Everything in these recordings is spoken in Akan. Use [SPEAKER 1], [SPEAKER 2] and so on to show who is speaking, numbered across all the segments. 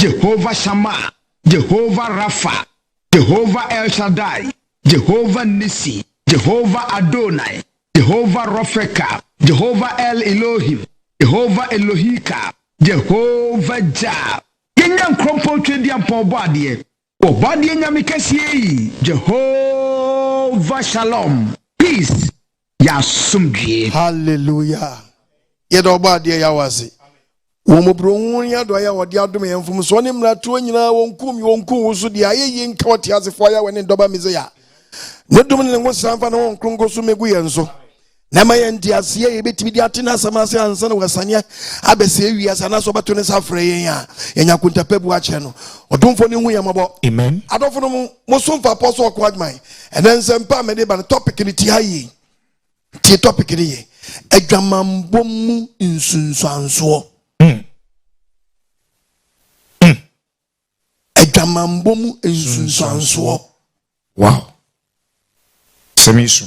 [SPEAKER 1] Jehovah Shammah, Jehovah Rapha, Jehovah El Shaddai, Jehovah Nissi, Jehovah Adonai, Jehovah Ropheka, Jehovah El Elohim, Jehovah Elohika, Jehovah Jah. Yɛnyɛ nkorɔmpɔn Tweaduampɔn Ɔbɔadeɛ, Ɔbɔadeɛ Nyame kɛseɛ yi, Jehovah Shalom, Peace, yɛ asomdwie. Hallelujah!
[SPEAKER 2] Yɛda Ɔbɔadeɛ Yahweh ase wɔ mmɔborɔhunu ne adɔeɛ a ɔde adom yɛn, mfomsoɔ ne mmaratorɔ nyinaa, wɔnku me, wɔnku wo nso deɛ, ayɛyie nka Ɔteasefoɔ Yahweh ne ne Dɔba Mesia, ne dom ne ne nwosaa mfa ne Honhom Kronkron so mmɛgu yɛn so. na ɛma yɛn nteaseɛ a yɛbɛtumi de ate n'asɛm ase ansa na wɔasaneɛ abɛsɛ awi ase anaasɛ ɔbɛto ne sa frɛ yɛn a yɛnya kontapɛ bu akyerɛ no ɔdomfoɔ no hu yɛn mmɔbɔ amen adɔfo no mu mo so mfa pɔ so ɔko adwuma ɛnɛ nsɛm pa a mede ba no topic no ti ha yie tie topic no yɛ adwamammɔ mu nsunsuansoɔ hmm. Hmm. adwamammɔ mu nsunsuansoɔ wow
[SPEAKER 3] sɛm yi so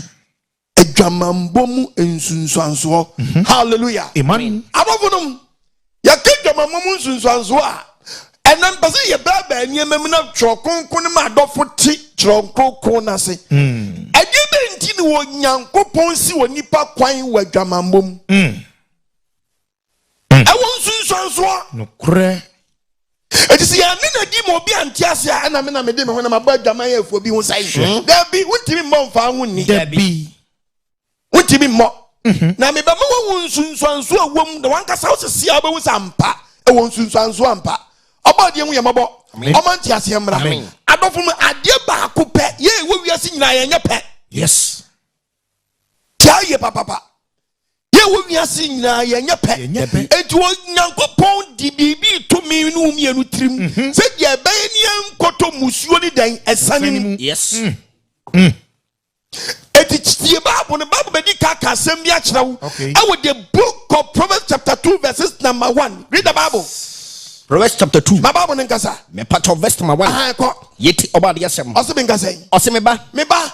[SPEAKER 2] adwamammɔ mu nsunsuansoɔ mhm. halleluya abɔfo
[SPEAKER 3] nom
[SPEAKER 2] yɛka adwamammɔ mu nsunsuansoɔ a ɛnɛ mpɛ sɛ yɛbɛɛbɛɛ nneɛma mu na twerɛ kronkron no ma adɔfo te twerɛ kronkron no ase hmm. ɛdeɛ dɛ nti ne onyankopɔn si wɔ nipa kwan wɔ adwamammɔ mu hmm. ɛwɔ nsunsuansoɔ. Nokorɛ.
[SPEAKER 3] Enti
[SPEAKER 2] sɛ yɛanne no adi ma obi ante ase a, ɛna me na mede me honam abɔ adwaman afuo bi ho sɛe. Hmm. Dabi, wontumi mmɔ mfaa ho nni. Dabi. Wontumi mmɔ. Mhm. Na mebɛma woahu nsunsuansoɔ a ɛwom, na wankasa wo sese a wobɛhu sɛ ampa ɛwɔ nsunsuansoɔ ampa. Ɔbɔ adeɛ hu yɛ mmɔbɔ. Ɔma nteaseɛ mmra. Adɔfo mu adeɛ baako pɛ yɛ ɛwɔ wiase nyinaa yɛnyɛ pɛ. Yes. Tia yie papapa. Yɛ wɔ wiase nyinaa yɛnyɛ pɛ. Enti Onyankopɔn de biribi to me ne wo mmienu tirim mhm. sɛ deɛ ɛbɛyɛ ne yɛnkɔtɔ mmusuo ne dɛn ɛsane no mu. Yes.
[SPEAKER 3] Mm. Mm.
[SPEAKER 2] Eti tie Bible no Bible bɛdi ka ka asɛm bi akyerɛ wo. Ɛwɔ the book of Proverbs chapter two verses number one. Read the Bible. Proverbs chapter
[SPEAKER 4] two. Ma Bible no nkasa.
[SPEAKER 2] Mepatɔ verse number
[SPEAKER 4] one. Aha ɛkɔ. Yeti ɔba adeɛ asɛm. Ɔsi mi nkasa yi. Ɔsi
[SPEAKER 2] mi ba. Mi ba.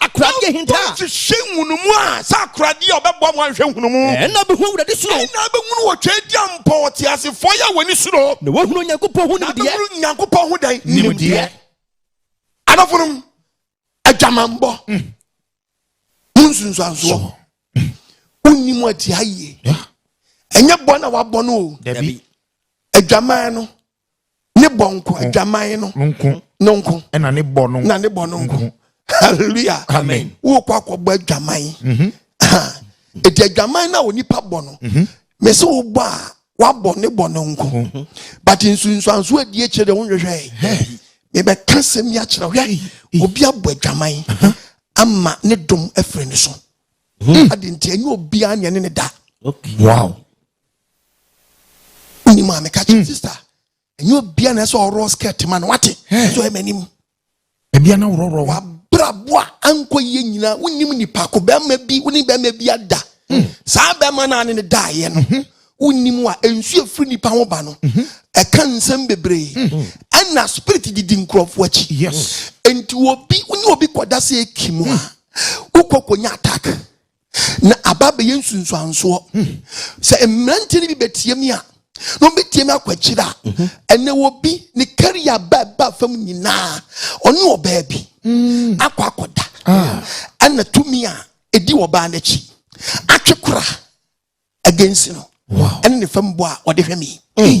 [SPEAKER 4] akoradeɛ ahinta. Wɔn nhwehwɛ nhunumu
[SPEAKER 2] a, sɛ akoradeɛ a ɔbɛboa mo ahwehwɛ nhunumu. Ɛnna abɛhu Awurade suro.
[SPEAKER 4] Ɛnna abɛhunu wɔ Twedeɛ
[SPEAKER 2] mpo ɔteasefoɔ yi a wɔn ani suro. Na wɔahunu Onyankopɔn ho
[SPEAKER 4] nimdeɛ. Na abɛhunu Nyankopɔn ho
[SPEAKER 2] dɛn? Nimdeɛ. Adɔfonom, adwamanbɔ. Mm. Mo nsunsuansoɔ. Mm. Wonni mo atia yie. Ɛnyɛ bɔ na wabɔ no o. Dabi.
[SPEAKER 3] Adwaman
[SPEAKER 2] no. ne bɔ nko adwaman no nko no nko ɛna ne bɔ no na
[SPEAKER 3] ne bɔ no nko
[SPEAKER 2] hallelujah amen wokɔ
[SPEAKER 3] akɔbɔ
[SPEAKER 2] adwaman mhm. ɛti adwaman no a onipa bɔ no mhm. me sɛ wobɔ a wabɔ ne bɔ no nko mhm. but nsunsuanso adi akyirɛ deɛ wonhwehwɛ mebɛka sɛm yi akyerɛ hwɛ obi abɔ adwaman ama ne dom afiri ne so ade nti ɛnyɛ obiaa neɛ ne ne da wow Wonyi maa meka kyerɛ hmm. sister ɛnyɛ obia na ɛsɛ ɔworɔ skirt ma no wate so ɛma anim ɛbia na
[SPEAKER 3] worɔworɔ wa wabrabɔ a
[SPEAKER 2] ankɔ yie nyinaa wonim nipa ko bɛrima bi wone bɛrima bi ada hmm. saa bɛrima no ane ne daeɛ no mhm. wonim a nsuo firi nipa ho ba no mhm. ɛka nsɛm bebree mhm. ɛna spirit didi nkurɔfoɔ akyi nti
[SPEAKER 3] obi
[SPEAKER 2] wone obi kɔda sɛ ɛki mu a wokɔ kɔnya attack na aba abɛyɛ nsunsuansoɔ hmm. sɛ mmeranteɛ no bi bɛtie me a na ɔbɛtie me akɔ akyiri a mhm. ɛnɛ wɔ bi ne kariya ba ɛba fam nyinaa ɔne ɔbaa bi hmm. akɔ akɔda ah. ɛna tumi a ɛdi ɔbaa no akyi atwe kora agensi no ɛne ne fam bɔ
[SPEAKER 3] a ɔde
[SPEAKER 2] hwɛ me hmm.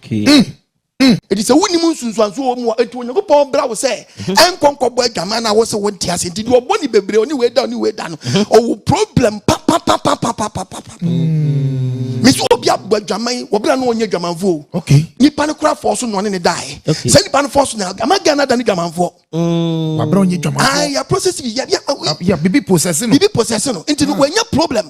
[SPEAKER 4] Mm, mm. Eti sɛ
[SPEAKER 2] wonim nsunsuanso wɔ mu a, eti Onyankopɔn bra wo sɛ mhm. ɛnkɔ nkɔbɔ adwaman na wɔsɛ wɔn ti ase nti deɛ ɔbɔ ne bebree ɔne wei da ɔne wei da no mhm. ɔwɔ problem papapapapapapapa. Mm. Mesi obi abɔ adwaman wɔbɛrɛ no wɔnyɛ adwamanfoɔ. Okay. Nipa no kura
[SPEAKER 3] fɔɔ so
[SPEAKER 2] na ɔne ne da yɛ. Okay. Sɛ nipa no fɔɔ so na ama Ghana da ne adwamanfoɔ. Mm. Wɔabɛrɛ ɔnyɛ
[SPEAKER 3] adwamanfoɔ. Ayi ah, a process bi yɛ yɛ.
[SPEAKER 2] Yɛ bibi
[SPEAKER 3] process no. Bibi process no nti no wɔnyɛ
[SPEAKER 2] problem.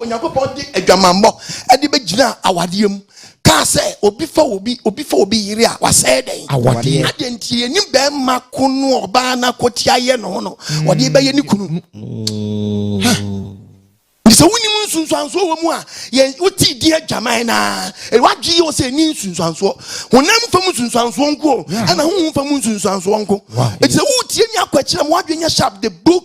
[SPEAKER 2] Onyankopɔn de adwamammɔ de bɛgyina awadeɛ mu kaa sɛ obi fa obi obi fa obi yere a wasɛe dɛn awadeɛ adeɛ nti
[SPEAKER 3] yɛnim
[SPEAKER 2] bɛrima ko no a ɔbaa no akɔtia yɛ no ho no ɔde bɛyɛ ne kunu sɛ wonim nsunsuansoɔ wɔ mu a yɛn wotii di adwaman no a wadwe yɛ sɛ ɛni nsunsuansoɔ honam fam nsunsuansoɔ nko ɛna honhom fam nsunsuansoɔ nko ɛti sɛ wotie ne akwakyerɛ ma wadwe nyɛ sharp the book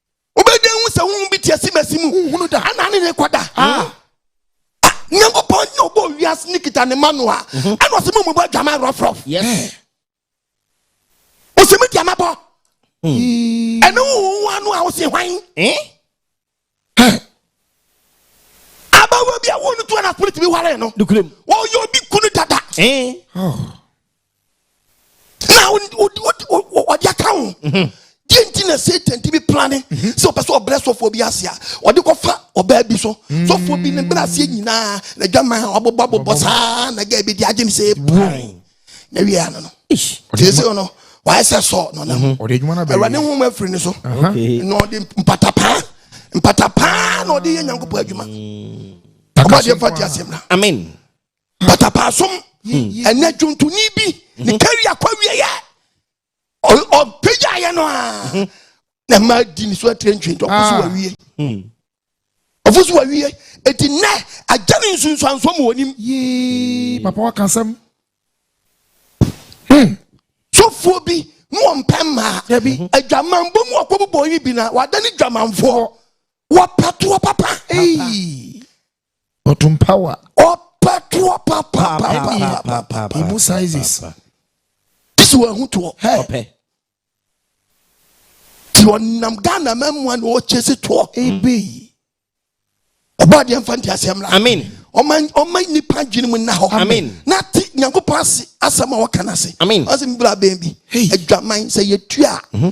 [SPEAKER 3] wobɛdwa hu
[SPEAKER 2] sɛ honhom bi te asimasi mu honhunu da ana ne ne kɔda ah. ah, nyankopɔn nyɛ ɔbɔ wiase ne kita ne ma no a mhm. ɛna ɔsɛ mu mobɔ adwama rɔfrɔf ɔsɛ me deɛ mabɔ hmm. ɛne wowo ano a wose hwan eh? abawa bi a wo no to ana spirit bi ware no wɔyɛ obi
[SPEAKER 4] kunu
[SPEAKER 2] dada eh? oh. na ɔde aka ho mhm. deɛ nti na satan tumi plane mhm. sɛ ɔpɛ sɛ ɔbrɛ sɔfoɔ bi ase a ɔde kɔfa ɔbaa bi so mhm. sɔfoɔ bi ne brɛ aseɛ nyinaa na adwaman a ɔbobɔ abobɔ saa na gɛ bi de agye ne sɛ pan na wie ano no tie sɛ no wayɛ sɛ sɔ na ɔnam awurade
[SPEAKER 3] ho mu afiri ne so
[SPEAKER 2] na ɔde mpatapaa mpatapaa na ɔde yɛ nyankopɔn adwuma ɔbɔdeɛ fa te aseɛ mmra amen
[SPEAKER 4] matapaasom
[SPEAKER 2] ɛnɛ dwontoni bi ne kari akɔ awieɛ ɔpagyaeɛ no a na ma di ne so atire ntwe nti ɔfo so wawie ɔfo so wawie ɛti nnɛ agya ne nsunsuansoɔ mu wɔnim papa
[SPEAKER 3] waka sɛm
[SPEAKER 2] sɔfoɔ bi ne wɔmpɛ mmaa adwamanbɔ mu ɔkɔbobɔ yi bi na wada ne dwamanfoɔ wɔpatoɔ papa
[SPEAKER 3] Bottom power. Ɔpɛ
[SPEAKER 2] toɔ papa papa. Emu sizes.
[SPEAKER 3] This
[SPEAKER 2] one ho toɔ. Ɔpɛ. Ti ɔnam Ghana mɛmoa na ɔkyesi toɔ. Ebe. Ɔbɔ adeɛ nfa nti aseɛ mmra. Amen. Ɔma ɔma nipa dwene mu na hɔ. Amen. Na ti
[SPEAKER 4] nyankopɔn
[SPEAKER 2] ase asɛm a ɔka no ase. Amen. Ɔsɛ mbra bɛn bi. Adwaman sɛ yɛtua.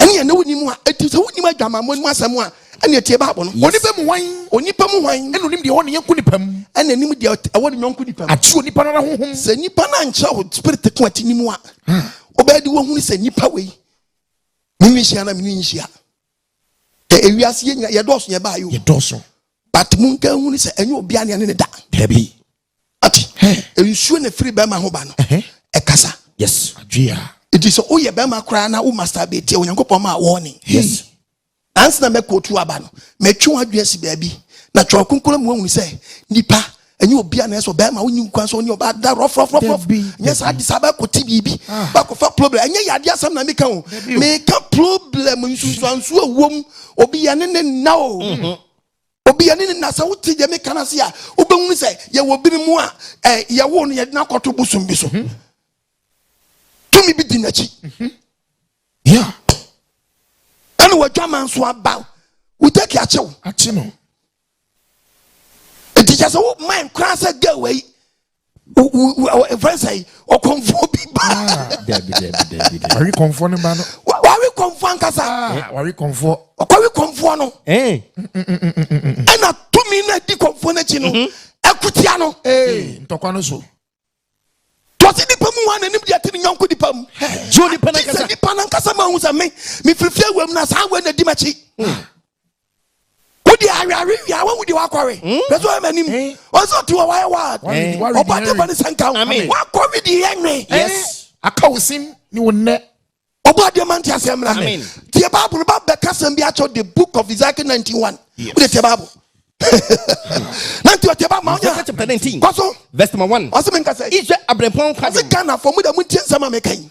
[SPEAKER 2] ɛneɛ na wonim a ɛti sɛ wonim adwamammɔ no mu asɛm a ɛneɛ tie bible no onipa mu hwan onipa
[SPEAKER 3] mu hwan ɛna onim deɛ ɛwɔ ne yɔnko
[SPEAKER 2] nipa mu ɛna nim deɛ ɛwɔ ne yɔnko nipa mu ate onipa no ara honhom
[SPEAKER 3] sɛ nipa no ankyerɛ
[SPEAKER 2] wo spirit ko ate ne mu a wobɛyɛ de woahunu sɛ nipa wei menwi nhyia na menwi nhyia ewiase yɛdɔɔso yɛbaayɛ yɛdɔɔso but
[SPEAKER 3] monka
[SPEAKER 2] hunu sɛ ɛnyɛ obia ne ɛne ne da dabi
[SPEAKER 4] ate
[SPEAKER 2] nsuo na ɛfiri bɛrima ho ba no ɛkasa yes adwea
[SPEAKER 4] ɛti
[SPEAKER 3] sɛ woyɛ
[SPEAKER 2] bɛrima koraa na wo masturbate a onyankopɔn ma wɔne yes
[SPEAKER 4] ansa na
[SPEAKER 2] mɛkɔtu aba no matwe wo adwene asi baabi na twɛ ɔkonkora mu ahunu sɛ nipa ɛnyɛ obi a na ɛsɛ ɔbɛrima wonyi nkwa sɛ ɔne ɔbaa da rɔfrɔfrɔfrɔf nyɛ saa de saa bɛkɔte biribi ah. bɛkɔfa problem ɛnyɛ yɛ adeɛ asɛm na meka o meka problem nsunsuansuo ɛwom obi yɛ ne ne nna o mm-hmm. obi ani ne na sɛ wote deɛ meka no ase a wobɛhunu sɛ yɛwɔ binom a eh, yɛwo no yɛde no akɔto bosom bi so mhm. tumi bi di n'akyi mhm.
[SPEAKER 3] ya
[SPEAKER 2] ɛne wadwama nso aba wotaki akyew akye no ɛti kyɛ sɛ wo mind koraa sɛ girl wei ɛfrɛ sɛ ɔkɔmfoɔ bi ba ah,
[SPEAKER 3] wawe kɔmfoɔ no ba no wawe kɔmfoɔ
[SPEAKER 2] ankasa ah, eh, wawe kɔmfoɔ
[SPEAKER 3] ɔkɔwe kɔmfoɔ
[SPEAKER 2] no eh. ɛna tumi no adi kɔmfoɔ no akyi no mhm. akutia no eh, ntɔkwa no
[SPEAKER 3] so
[SPEAKER 2] tɔse nipa mu wa n'anim deɛ te ne nyɔnko nipa mu sɛ nipa no ankasa ma hu sɛ me mefirifiri awam no saa wei na di m'akyi hmm. wode aweawe wie a wahu deɛ wakɔwe hmm? na sɛ ɔma anim eh? ɔsɛ ɔte wɔ wayɛ wa ɔbɔde ba ne sɛ nka wakɔwe deɛ yɛ nwe eh? aka wo
[SPEAKER 4] sim
[SPEAKER 3] ne wo nnɛ ɔbɔ adeɛ ma nte
[SPEAKER 2] aseɛ mmra me tie bible ba bɛka sɛm bi akyɛw the book of ezekiel 91 wode tie bible nanti ɔte ba
[SPEAKER 4] ma wonya kɔ so ɔse menka sɛ
[SPEAKER 2] ɔse
[SPEAKER 4] ghanafoɔ mu da
[SPEAKER 2] montie nsɛm a meka yi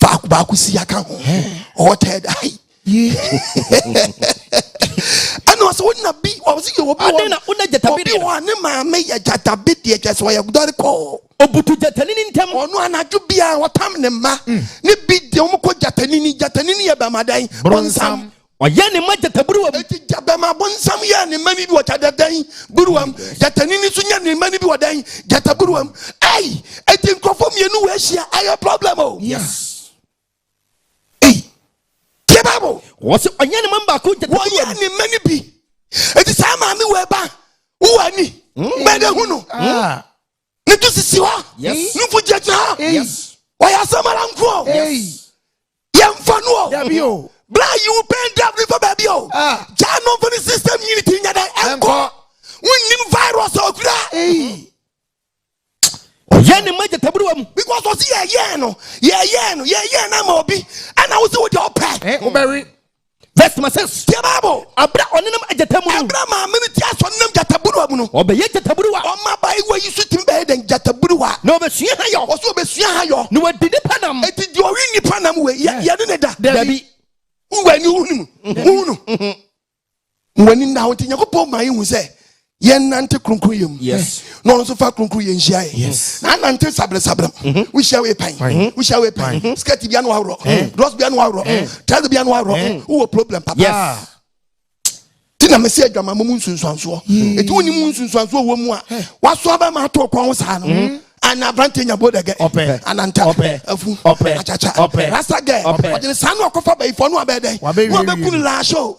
[SPEAKER 2] baako baako si aka ho ɔwɔ tɛɛ da yi ɛna ɔsɛ wona bi ɔsɛ yɛ obi wɔ na wona gyatabi deɛ obi wɔ ne maame yɛ gyatabi deɛ kyɛ sɛ ɔyɛ dɔre kɔɔ obutu gyatanini
[SPEAKER 4] ntɛm ɔno anadwo biara
[SPEAKER 2] wɔtam ne mma ne bi deɛ wɔn kɔ gyatanini gyatanini yɛ bɛmadan bronsam Ɔyɛɛ ne mma
[SPEAKER 4] gyataburuwa mu. Enti gyabɛma bonsam
[SPEAKER 2] yɛɛ ne mma no bi wɔ gyadɛdɛn buruwa mu. Gyatanini nso nyɛ ne mma no bi wɔ dɛn gyataburuwa mu. Ei, enti nkurɔfoɔ mmienu wɔ ahyia ɛyɛ problem o. Yes. Ei, tie Bible. Wɔsi ɔnyɛ
[SPEAKER 4] ne mma no baako gyataburuwa mu. Wɔyɛ ne mma no bi.
[SPEAKER 2] Enti saa maame wɔ ɛba wowɔ ani. Mbɛdɛ hu no. ne to sisi hɔ ne mfo gyinagyina
[SPEAKER 4] hɔ
[SPEAKER 2] wɔyɛ
[SPEAKER 4] asɛm ara nko
[SPEAKER 2] o
[SPEAKER 3] yɛmfa
[SPEAKER 2] no o bla
[SPEAKER 3] yiwo pɛn
[SPEAKER 2] dab ne fa baabi o ah. gyaa no mfa ne system nyini ti nya dɛn ɛnkɔ wonnim virus a ɔkura
[SPEAKER 4] ɔyɛ ne ma gyataburuwa mu because ɔse yɛyɛɛ no
[SPEAKER 2] yɛyɛɛ no yɛyɛɛ no ama obi ɛna wo sɛ wode ɔpɛ eh, wobɛwe
[SPEAKER 3] Verse number six.
[SPEAKER 4] Tie Bible. Abira
[SPEAKER 2] ɔnenam agyata
[SPEAKER 4] mu no. Abira maame no ti aso
[SPEAKER 2] ɔnenam gyataburuwa mu no. Ɔbɛyɛ gyataburuwa.
[SPEAKER 4] Ɔma abaayewa yi so
[SPEAKER 2] tumi bɛyɛ dɛn gyataburuwa. Na ɔbɛsua ha yɔ.
[SPEAKER 4] Ɔso ɔbɛsua ha yɔ.
[SPEAKER 2] Na wadi nipa nam.
[SPEAKER 4] Eti deɛ ɔwe nipa
[SPEAKER 2] nam wei yɛ yɛ ne ne da. Dabi.
[SPEAKER 4] Wúwa ni wúhùn
[SPEAKER 2] mu. Wúhùn no. ma w'ani nna ho nti nyankopɔn ma yɛhu sɛ yɛnante kronkronyɛ mu na ɔno nso fa
[SPEAKER 4] kronkronyɛ
[SPEAKER 2] nhyia yɛ na anante
[SPEAKER 3] sabrɛsabrɛm
[SPEAKER 2] mhm. wohyia wei pan mhm. wohyia wei pan mhm. skirt bia no aworɔ eh. drɔs bia no aworɔ eh. trouser bia no aworɔ eh. wowɔ problem papa ah. ti na mesi adwama mu nsunsuansoɔ ɛti hmm. wonim nsunsuansoɔ wɔ mu a waso aba ma ato ɔkwan ho saa no ana aberante nya bodɛgɛ ananta afu akyakya rasa gɛ ɔgyene saa no ɔkɔfa bayifoɔ no abɛdɛn wabɛku no laahye o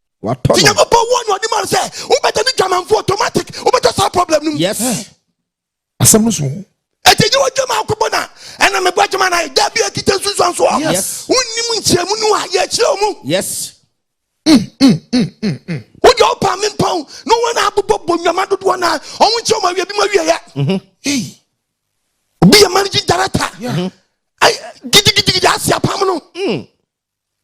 [SPEAKER 2] watɔ no.
[SPEAKER 4] Nyankopɔn wɔ no
[SPEAKER 2] anim sɛ wobɛda ne dwamanfo automatic wobɛtɔ saa problem no mu. Yes.
[SPEAKER 4] Asɛm no
[SPEAKER 3] so. Ɛti nyɛ wadwama
[SPEAKER 2] akɔbɔ na ɛna mebɔ adwama na da bi akita nsunsuan so. Yes. Wonnim
[SPEAKER 4] nkyerɛmu
[SPEAKER 2] no a yɛkyerɛ mu. Yes. Wode ɔpa me mpɔn na wɔn a abobɔ bɔ nnwama dodoɔ na ɔmo nkyɛn ɔmo awie bi ma wieɛ. Mm-hmm. Obi yɛ managing director. Gidigidigidi ase apam no. Mm.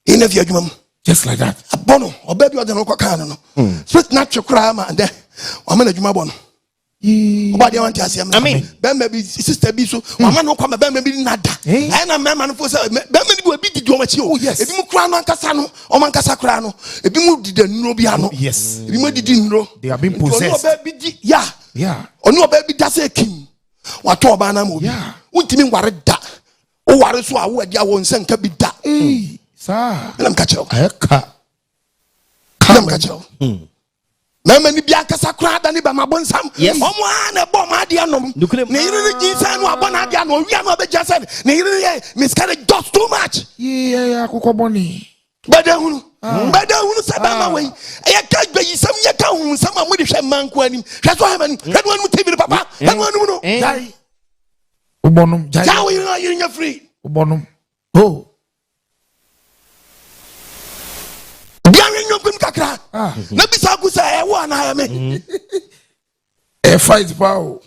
[SPEAKER 2] ɛna fi adwuma mu just like that
[SPEAKER 3] abɔ no ɔbɛ bi ɔde
[SPEAKER 2] no kɔkaa no no hmm. fit na twe koraa ma dɛ wama no adwuma bɔ no ɔba deɛ wante aseɛ mɛ bɛrima bi sista bi so hmm. wama no kɔ ma bɛrima bi nada eh? ɛyɛ na mmarima no fo sɛ bɛrima no bi obi didi wɔn akyi o oh, ebi mu koraa no ankasa no wɔn ankasa koraa no ebi mu dida nnuro bi ano ebi mu didi nnuro nti ɔno ɔbɛ
[SPEAKER 3] bi di ya
[SPEAKER 2] ɔno ɔbɛ bi da sɛ kin watɔ ɔbaa na ma obi wuntumi nware da. woware so a woadi a wo nsa nka bi da ɛnam
[SPEAKER 3] ka kyerɛ
[SPEAKER 2] woɛnam
[SPEAKER 3] ka kyerɛ wo
[SPEAKER 2] mɛma ni bi ankasa koraa da ne bɛma bonsam ɔmo a na ɛbɔ ɔmo adeɛ nom ne yere no gyi sɛ no abɔ no adeɛ ano ɔwia no abɛgya sɛ ne yere no yɛ miscarriage just too much yɛ akokɔ
[SPEAKER 3] bɔne bɛda hunu
[SPEAKER 2] ah. bɛda hunu sɛ bɛma ah. wei yɛka bayisɛm yɛka homsɛm a mode hwɛ mma nko anim hwɛ so hɛma nim hwɛ no anom tv no papa hwɛ no anom no gyae
[SPEAKER 3] wobɔnom gyae wo yere
[SPEAKER 2] yere nya firi wobɔnom
[SPEAKER 3] o
[SPEAKER 2] biawe nnwɔmpem kakra ah. na bisa ko sɛ ɛwo anaa ɛme mm.
[SPEAKER 3] ɛ fight pa o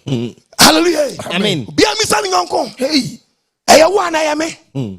[SPEAKER 3] hallelujah
[SPEAKER 2] amen bia
[SPEAKER 4] misa ne nyɔnko
[SPEAKER 3] ɛyɛ wo anaa
[SPEAKER 2] ɛme mm.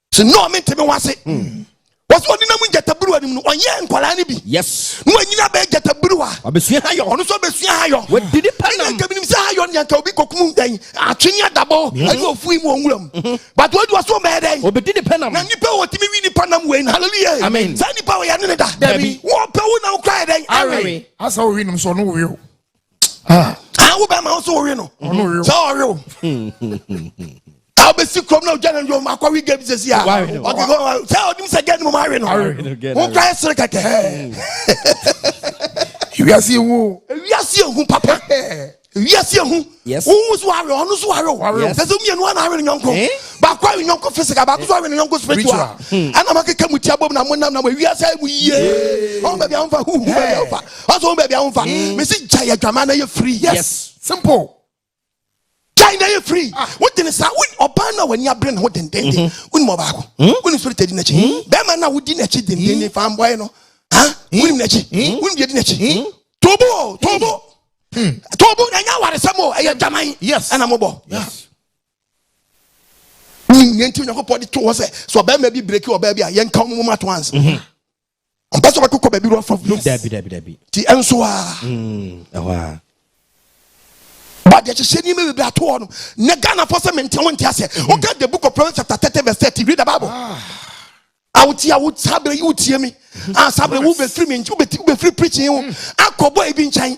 [SPEAKER 4] sɛ no
[SPEAKER 2] mente me ho ase hmm. wɔsɛ ɔde nam gyataburuwa no mu no ɔnyɛ nkwadaa no bi yes na wanyina bɛyɛ gyataburuwa ɔbɛsua hayɔ ɔno nso
[SPEAKER 4] ɔbɛsua hayɔ
[SPEAKER 2] wɔdi nipa nam ɛnna nkaminim
[SPEAKER 4] sɛ hayɔ ne anka
[SPEAKER 2] obi kɔkum dɛn atwene adabɔ mhm. ɛne ɔfui mu ɔnwura mu mhm. but wɔadi wɔso ɔmɛyɛ dɛn ɔbɛdi nipa nam na nipa
[SPEAKER 4] wɔ tumi wi nipa
[SPEAKER 2] nam wei no hallelujah amen saa nipa wɔyɛ
[SPEAKER 4] ne ne da
[SPEAKER 2] dabi wɔpɛ wo
[SPEAKER 4] na wokora
[SPEAKER 2] yɛ dɛn awe asɛ wowi
[SPEAKER 3] nom sɛ ɔno wowi o
[SPEAKER 2] Ah. Ah, wo bɛrima nso wowe no sɛ ɔwe wo a wobɛsi kurom na wogya no dwom akɔwe gam sɛsi a sɛ ɔnim sɛ gɛ no mom awe no wo kora yɛ sere kɛkɛ
[SPEAKER 3] wiase ehu wiase ehu papa
[SPEAKER 2] wiase ehu wohu so awe
[SPEAKER 4] ɔno so
[SPEAKER 2] awe sɛ sɛ mmienu ana awe no nyɔnko eh? baako awe nyɔnko physical baako so awe no nyɔnko spiritual ɛna hmm. makeka mu tia bom na monam na wiase mu yie ɔn baabi a womfa huhu baabi a womfa ɔsɛ wo baabi a womfa mm. mesi gyae adwaman na yɛ free yes simple gyae na yɛ free ah. wodene saa ɔbaa no a w'ani abere ne ho dendenden mm-hmm. wonim ɔbaako mm. wonim so retadi n'akyi mm. bɛrima no a wodi n'akyi dendenden fa mbɔe no wonim n'akyi wonim deɛ di n'akyi tobo tobo hmm. tobo ɛnyɛ awaresɛm o ɛyɛ adwaman ɛna mobɔ yes wonim yɛn ti onyankopɔn de to hɔ sɛ sɛ ɔbɛrima bi breki ɔbaa bi a yɛnka wo mu ma to ansa ɔmpɛ sɛ ɔbɛkokɔ baabi no afa wura dabi dabi dabi ti
[SPEAKER 4] ɛnso a
[SPEAKER 2] mm, ɛhɔ a bade ahyehyɛ nneɛma bebree ato hɔ no na ghanafoɔ sɛ mente wo nte aseɛ mm-hmm. woka the book of proverbs chapter 30 verse 30 read the bible ah. awotie awo saa berɛ yi wotie me mm-hmm. a ah, saa berɛ wobɛfiri me nkyɛn wobɛfiri preaching wo mm. akɔbɔ ebi nkyɛn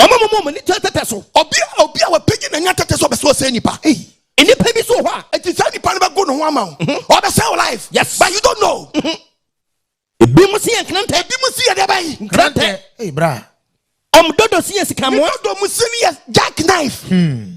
[SPEAKER 2] Ɔma
[SPEAKER 4] mo mom ani kyerɛ tɛtɛ so. Ɔbea a obi a wapagye
[SPEAKER 2] n'ani atɛtɛ sɛ ɔbɛ sɛ ɔsɛe nipa ei. Nnipa bi so
[SPEAKER 4] wɔ hɔ a eti saa nipa no bɛ go
[SPEAKER 2] ne ho ama wo mm-hmm. ɔbɛ sɛe wo life yes but you don't know. Mm-hmm.
[SPEAKER 4] Ebi mo si yɛ nkrantɛ. Ebi mo si yɛ dɛ bɛyi.
[SPEAKER 2] Nkrantɛ. Ei bra.
[SPEAKER 3] Ɔmo dodo si
[SPEAKER 4] yɛ sika moa. Ne dodo mo si ni yɛ
[SPEAKER 2] jack knife. Hmm.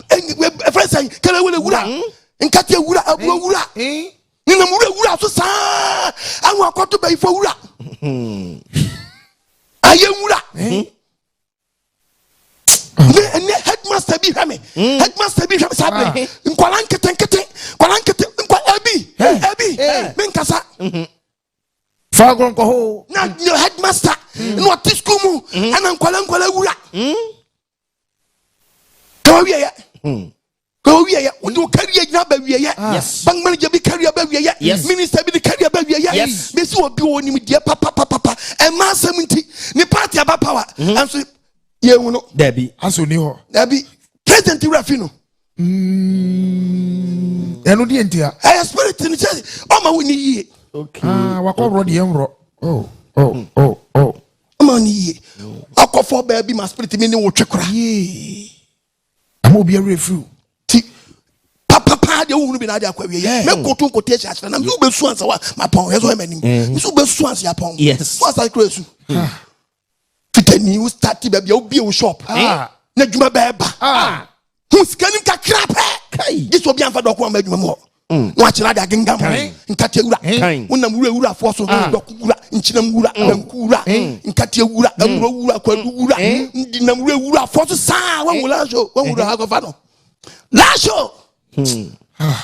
[SPEAKER 2] ɛfrɛ sɛn kɛlɛ wele wura hmm? nkate wura aburo hmm? wura hmm? nenam wura wura so saa ahu akɔto bɛyifo wura ayɛ wura ne ɛnɛ headmaster bi hwɛ me headmaster bi hwɛ me saa bere nkwala nketenkete nkwala nkete nkwa ɛbi ɛbi me nkasa
[SPEAKER 3] fagoro nkɔhoo na headmaster
[SPEAKER 2] na ɔte sukuu mu ɛna nkwala nkwala wura. ka wa wieyɛ hmm. ka wa wieyɛ wɔde wo kariya nyina ba wieyɛ ah. bank manager bi
[SPEAKER 4] kariya ba
[SPEAKER 2] wieyɛ minister bi de kariya
[SPEAKER 4] ba
[SPEAKER 2] wieyɛ bɛsi wɔ bi wɔ
[SPEAKER 4] nim deɛ
[SPEAKER 2] papapapapa ɛma asɛm nti ne party aba power mhm. ɛnso yɛhu no dabi aso ni hɔ
[SPEAKER 4] dabi
[SPEAKER 3] president
[SPEAKER 2] wura fi no hmm.
[SPEAKER 3] ɛno deɛ nti a ɛyɛ spirit no kyɛ
[SPEAKER 2] ɔma wo ni yie ah, wakɔ
[SPEAKER 4] worɔ deɛ
[SPEAKER 3] nworɔ oh, oh, hmm. oh, oh.
[SPEAKER 2] ama no yie wakɔfɔ baabi ma spirit mi ne wo twe kora
[SPEAKER 3] ama obi awerɛ firi wo ti
[SPEAKER 2] papapaa deɛ wohunu bi na ade akɔ awie yɛ mɛkoto nkote ahyɛ ahyɛ na mso bɛsu ansa wa mapɔn yɛ so ɛma nim mso bɛsu ansa yapɔn so ansa kora su fitani wo starte baabi a wobie wo shop na adwuma bɛɛba ho sika nim kakra pɛ gye sɛ obi amfa dɔko ama adwuma mu hɔ mm. na wakyerɛ ade agengam nkateɛ wura wonam wura wurafoɔ so ah. dɔko wura nkyinam wura mm. banku wura mm. nkateɛ wura amuro wura kwadu wura ndinam wura wurafoɔ so saa wanwura so wanwura akɔfa no laso hmm. ah.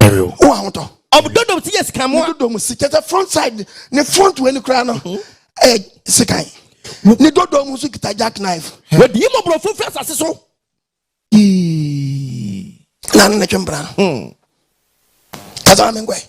[SPEAKER 2] Ɛrew. Wo ahotɔ. Ɔbdodɔ mu si yɛ sikan
[SPEAKER 4] mu a. Dodɔ mu si kyɛ sɛ front
[SPEAKER 2] side ne front wɔ ni koraa no mhm. ɛyɛ sikan. Ne dodɔ mu nso kita jack knife. Wɔdi mu borɔfo
[SPEAKER 4] fɛ asase so. Yii.
[SPEAKER 2] Na ne twempra. Hmm. Kasa mi nkɔɛ.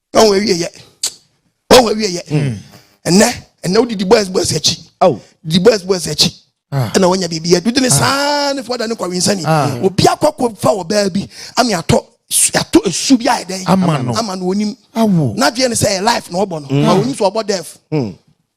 [SPEAKER 2] ɔwɔ awie yɛ ɔwɔ awie yɛ hmm. ɛnɛ ɛnɛ wodi di boys boys akyi di boys boys akyi ah. ɛna wɔnya biribi yɛ didi ne ah. saa ne fɔ da ne kɔwe nsani ah. obi akɔkɔ fa wɔ baa bi ami atɔ atɔ esu bi ayɛ dɛ ama no ama no onim n'adwene ne
[SPEAKER 3] sɛ ɛyɛ life
[SPEAKER 2] na ɔbɔ no ma onim sɛ ɔbɔ dɛf.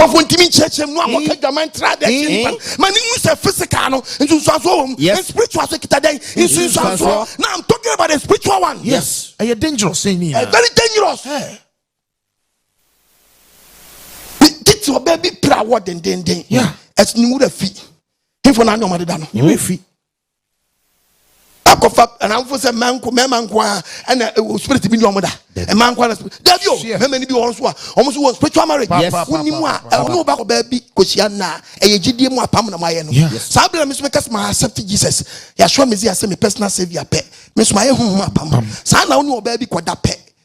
[SPEAKER 2] Nkurɔfoɔ ntumi nkyerɛkyerɛ mu no a wɔka adwaman ntra adeɛ akyi nipa no ma ne hu sɛ physical no nsunsuansoɔ wɔ mu Yes. and spiritual so kita dɛn nsunsuansoɔ Nsunsuansoɔ. na I'm talking about the spiritual one Yes. Ɛyɛ dangerous
[SPEAKER 3] sɛ ni nyinaa. very dangerous
[SPEAKER 2] Eh. Bi- titi ɔbaa bi pira awɔ dendenden Yeah. ɛs ne wura fi hinfo na anya ɔma deda no Ne wura fi.
[SPEAKER 3] akɔfa
[SPEAKER 2] anamfo sɛ mmaa nko mmarima nko ara ɛna ɛwɔ spirit bi ni wɔn da mmaa nko ara spirit dabi o mmarima ni bi wɔn so a wɔn so wɔ spiritual marriage wonni mu a ɛwɔ ne wo ba kɔ baabi kɔhyia nna ɛyɛ gyidie mu apam na mo ayɛ no saa bere mi nso mi kɛse ma accept jesus yasɔ mi zi ase mi personal saviour pɛ mi nso ma ayɛ huhum apam saa na wɔn ni wɔ baabi kɔ da pɛ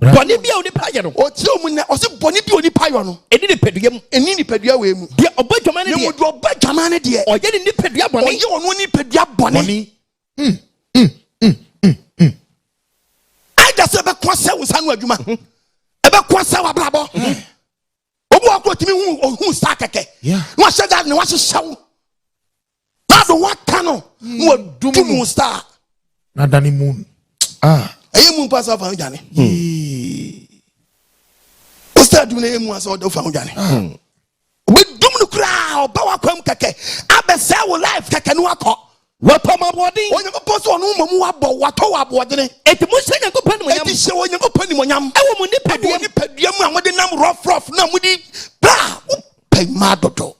[SPEAKER 2] bɔne bi a onipa yɛ no ɔkyerɛ mu nɛ ɔse bɔne bi a onipa yɔ no ɛni nipadua mu ɛni nipadua wei mu deɛ ɔbɔ adwaman no deɛ deɛ ɔbɔ adwaman no deɛ ɔyɛ ne nipadua bɔne ɔyɛ ɔno nipadua bɔne ɛda sɛ ɛbɛko asɛ wo sa no adwuma ɛbɛko asɛ wo abrabɔ obi wakɔ tumi hu ɔhu sa kɛkɛ na wahyɛ da ne wahyehyɛ wo Bible wata no na hmm. wadum mu saa. Na dane
[SPEAKER 3] mu. Ah. Ɛyɛ
[SPEAKER 2] mu mpa sɛ ɔfa ho dwane. Ɔsɛ adum no ɛyɛ mu asɛ ɔfa ho dwane. Ɔbɛdum no koraa ɔba wakwam kɛkɛ abɛsɛ wo life kɛkɛ no akɔ. Wɔtɔ mo aboɔden. Onyankopɔn sɛ ɔno mmom wabɔ watɔ wɔ aboɔdene. Eti mo hyɛ Onyankopɔn nimonyam. Eti hyɛ Onyankopɔn nimonyam. Ɛwɔ mo nipadua mu. Ɛwɔ nipadua mu a mo de nam rɔfrɔf na mo de baa pɛ mmaa dodo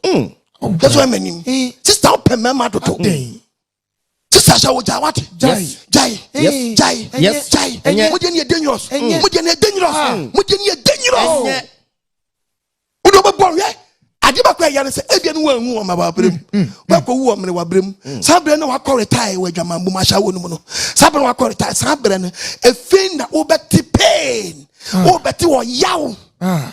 [SPEAKER 2] that's why many sister pɛ mmarima dodo sister sɛ wogyae wate gyae gyae gyae mogye ne yɛ dangerous mogye ne yɛ dangerous mogye ne yɛ dangerous wode wobɛbɔ hwɛ ade bɛkɔ ɛyɛ no sɛ ebia no wanwu wɔ ma wabrɛ mu mm, mm, mm. wakɔ wu wɔ mene wabrɛ mu saa berɛ no wakɔ retae wɔ adwaman bom ahyɛ wɔ no mu no saa berɛ wakɔ retae saa berɛ no ɛfei na wobɛte pain ah. wobɛte wɔ yaw ah.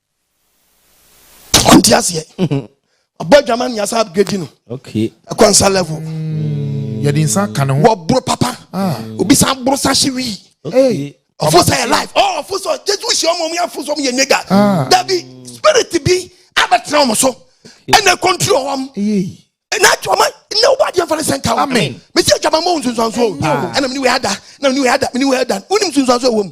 [SPEAKER 2] ɔnte aseɛ ɔbɔ adwama no yasa upgrade no ɛkɔ nsa level mm. yɛde
[SPEAKER 3] nsa ka ne ho wɔboro papa
[SPEAKER 2] ah. obi san boro sa hye wii ɔfo sɛ yɛ life oh, ɔfo sɛ jesu hyɛ ɔmo ɔmo yɛ afo sɛ ɔmo yɛ nega ah. dabi spirit bi abɛtena ɔmo so ɛna kɔntiri ɔwɔm ɛna adwama ɛna ɔba adiɛ nfa ne sɛ nka wɔn mesi adwama mɔ nsonsanso ɛna mi ni wɛ ada ɛna mi ni wɛ ada mi ni wɛ ada wɔn ni nsonsanso ɛwɔ mu.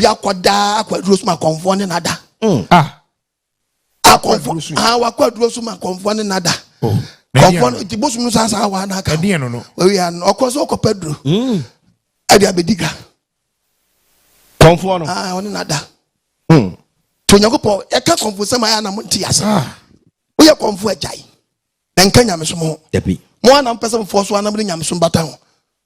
[SPEAKER 4] bi akɔda
[SPEAKER 2] akwaduro so ma kɔnfoɔ ne nada mm. ah.
[SPEAKER 3] akɔnfoɔ ah, wakɔ aduro so ma
[SPEAKER 2] kɔnfoɔ ne nada oh. kɔnfoɔ
[SPEAKER 3] no ti
[SPEAKER 2] bosom no saa saa waa n'aka owia no
[SPEAKER 3] ɔkɔ so ɔkɔ
[SPEAKER 2] pɛ duro mm. ɛde abɛdi ka
[SPEAKER 4] kɔnfoɔ no ah, ɔne nada mm.
[SPEAKER 2] to onyankopɔn ɛka kɔnfoɔ sɛm ayɛ anam nti ase woyɛ kɔnfoɔ agyae na nka nyamesom ho mo anam pɛ
[SPEAKER 4] sɛ mofoɔ
[SPEAKER 2] so anam ne nyamesom bata ho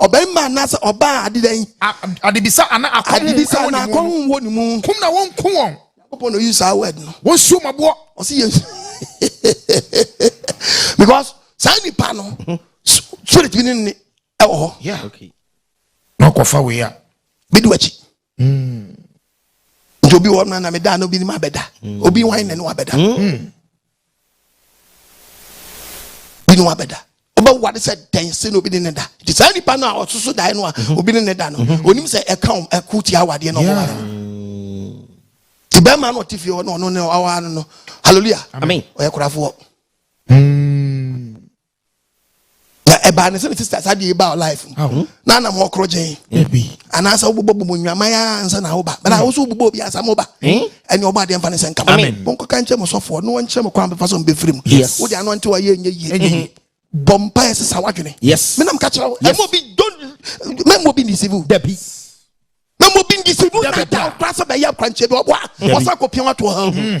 [SPEAKER 2] Ɔbarima anaasɛ ɔbaa ade dɛn? A, adebisa anaa
[SPEAKER 3] akɔnhom adebisa anaa akɔnhom
[SPEAKER 2] wɔ ne mu. Kum na wɔnku wɔn.
[SPEAKER 3] Nyankopɔn na ɔyi saa word
[SPEAKER 2] no. Wɔnsi wɔn aboɔ.
[SPEAKER 3] Ɔsi yɛn
[SPEAKER 2] because saa nipa no spirit bi ne ne ɛwɔ hɔ. Yeah. Okay.
[SPEAKER 4] Na ɔkɔfa
[SPEAKER 3] wei a. Bedi w'akyi.
[SPEAKER 2] nti obi wɔ na meda na obi nim abɛda mm. obi wan na ne wabɛda mm. mm. bi ne wabɛda wobɛware sɛ dɛn sɛ na obi ne ne da nti saa nipa no a ɔsoso dae no a mm-hmm. obi ne ne da no onim mm-hmm. sɛ ɛka wo ɛko tia awadeɛ na ɔbɛware no nti bɛrima no ɔte fie hɔ na ɔno ne ɔwaa no no halleluya ɔyɛ korafoɔ na ɛbaa ne sɛ ne sista saa deɛ ɛbaa wɔ life mu na anam hɔ koro gyen anaasɛ wobobɔ bɔ mu nnwaman a ansa na woba bɛna wo so wobobɔ obi ansa ma woba ɛne ɔbɔ adeɛ mfa ne sɛ nkama monkɔka nkyɛ mo sɔfoɔ no wɔnkyerɛ mo kwan bɛfa so mbɛfiri mu wode ano nte wayɛ ɛnyɛ yie bɔ mpa yɛ sesa wadwene menam ka kyerɛ wo ɛma obi mɛma obi ndisive wo dabi
[SPEAKER 4] mɛma
[SPEAKER 2] obi ndisive wo nata wokora sɛ bɛyɛ akwankyɛ bi ɔboa ɔsa kɔpia watoɔ ha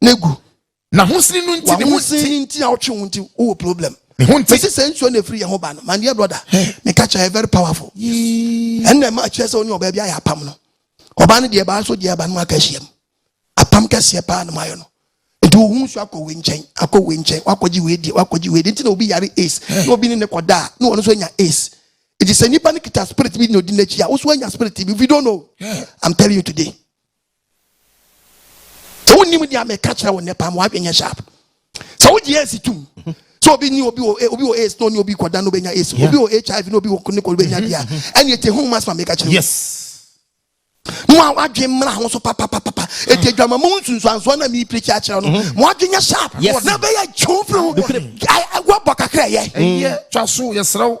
[SPEAKER 2] na gu. Na ho
[SPEAKER 3] sini no nti ne ho sini ne nti a ɔtwe ho nti wowɔ
[SPEAKER 2] problem. Me ho nti. Mesi sɛ nsuo
[SPEAKER 3] na ɛfiri yɛ ho
[SPEAKER 2] ba no, my dear brother, meka kyerɛ very powerful. Ɛnna ɛma akyerɛ sɛ wo ne ɔbaa bi ayɛ apam no. Ɔbaa no deɛ ɛbaa so deɛ ɛba no mu aka ahyiam. Apam kɛseɛ paa na mu ayɔ no. Nti wo ho nsuo akɔ wei nkyɛn, akɔ wei nkyɛn, wakɔgye wei deɛ, wakɔgye wei deɛ. Nti na obi yare ace, na obi ne ne kɔda a, na ɔno nso anya ace. Nti sɛ nipa no kita spirit bi na odi n'akyi a, wo nso anya spirit bi. If you don't know, I'm telling you today. sɛ wonim deɛ meka kyerɛ wo nnɛ paa ma woadwenyɛ sharp sɛ wogye yɛnsi tom sɛ obi ni obi wɔ eh, obi wɔ aids na ɔne obi kɔda no bɛnya aids obi wɔ hiv na obi wɔ ne kɔ bɛnya deɛ ɛne ɛte ho mas ma meka kyerɛ yes
[SPEAKER 3] na mo
[SPEAKER 2] a wadwen mmara ho so papapapapa ɛti adwama mu nsunsuansoɔ na meepirikyi akyerɛ no mm-hmm. mo adwen yɛ sharp na bɛyɛ twe firi ho wabɔ kakra yɛ twa so yɛserɛ
[SPEAKER 3] wo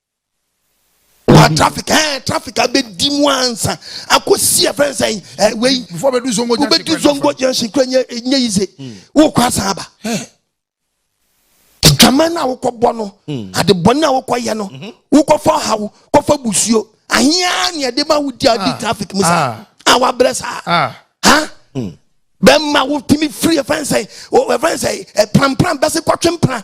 [SPEAKER 3] wa
[SPEAKER 2] traffic ɛɛ eh, traffic abɛdi mu ansa akɔsi ɛfɛn eh, sɛn ɛɛ eh, wei wobɛdi
[SPEAKER 3] zongo junction
[SPEAKER 2] kura nyɛ nyɛ yi se hmm. wokɔ asan aba adwama no a wokɔbɔ no hmm. adebɔne a wokɔyɛ no mhm. wokɔfa haw kɔfa busuo ahia ne ɛde ma wodi a wodi ah. traffic mu saa ah. a wabrɛ saa ah. ha hmm. bɛma wotumi firi ɛfɛn sɛn ɛfɛn sɛn ɛprampram bɛse kɔtwe mpra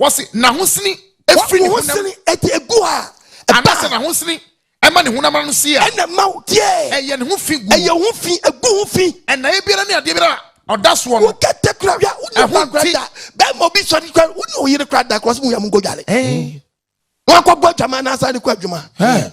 [SPEAKER 2] Wɔsi
[SPEAKER 3] n'ahosini efiri ne honam. W'ahosini ɛdi egu a.
[SPEAKER 2] Anasɛ n'ahosini
[SPEAKER 3] ɛma ne honam ano sie a. Ɛna ɛma wo deɛ.
[SPEAKER 2] Ɛyɛ ne ho fi
[SPEAKER 3] gu. Ɛyɛ ho fi, egu ho
[SPEAKER 2] fi. Ɛnaeɛ biara ne adeɛ
[SPEAKER 3] biara a ɔda soɔ no. Wo kɛtɛ kura wia, wo
[SPEAKER 2] nua ba kura da. Bɛɛma obi sɔre kura, wo ne oyere kura da kura ɔsi mu wia mu nko dwale. Ɛɛ. Wɔn akɔ bɔ adwama anaasɛ ade kɔ adwuma. Ɛɛ.